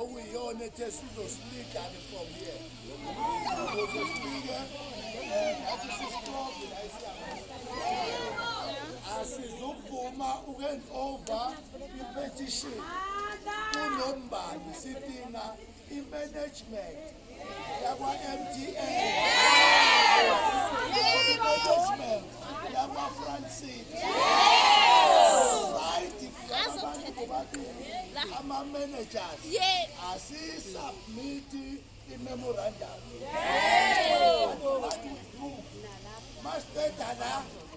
okuyiyona ethe sizosiligane from here ukuze sifike ngathi sisixoke la isiyakhona asizuvuma uku-hand over i-petition kunombani sidinga i-management yakwa-mda engagement yamafrancit ama-managers asiyisubmithi i-memorandum masiqeda la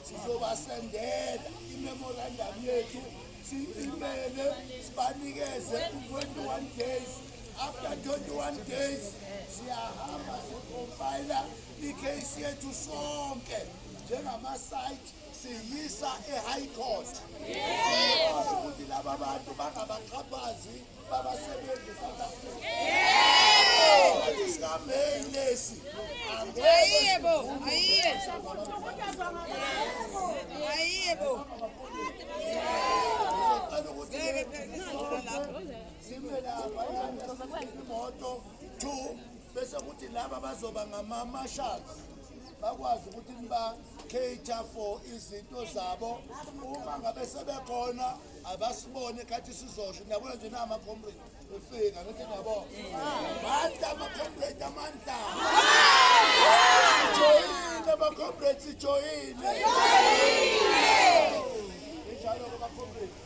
sizobasendela i-memorandum yethu siyimele sibanikeze u-21 days After 21 days siyahamba sicompile icase yethu sonke njengama-site siyisa e-high court ukuthi laba bantu bangabaxhaphazi babasebenzi south africa sikameyi lesi ayiyebo ayiyebo ayiyebo sime lapha imoto two bese kuthi laba bazoba ngama-marshals bakwazi ukuthi niba-cater for izinto zabo uma ngabe sebekhona abasibone khathi sizosho niyabona nje nama-comrade efika ngithi niyabona mandla ama-comrade amandla sijoyile ama-comrade sijoyile njalo-ke ama-comrade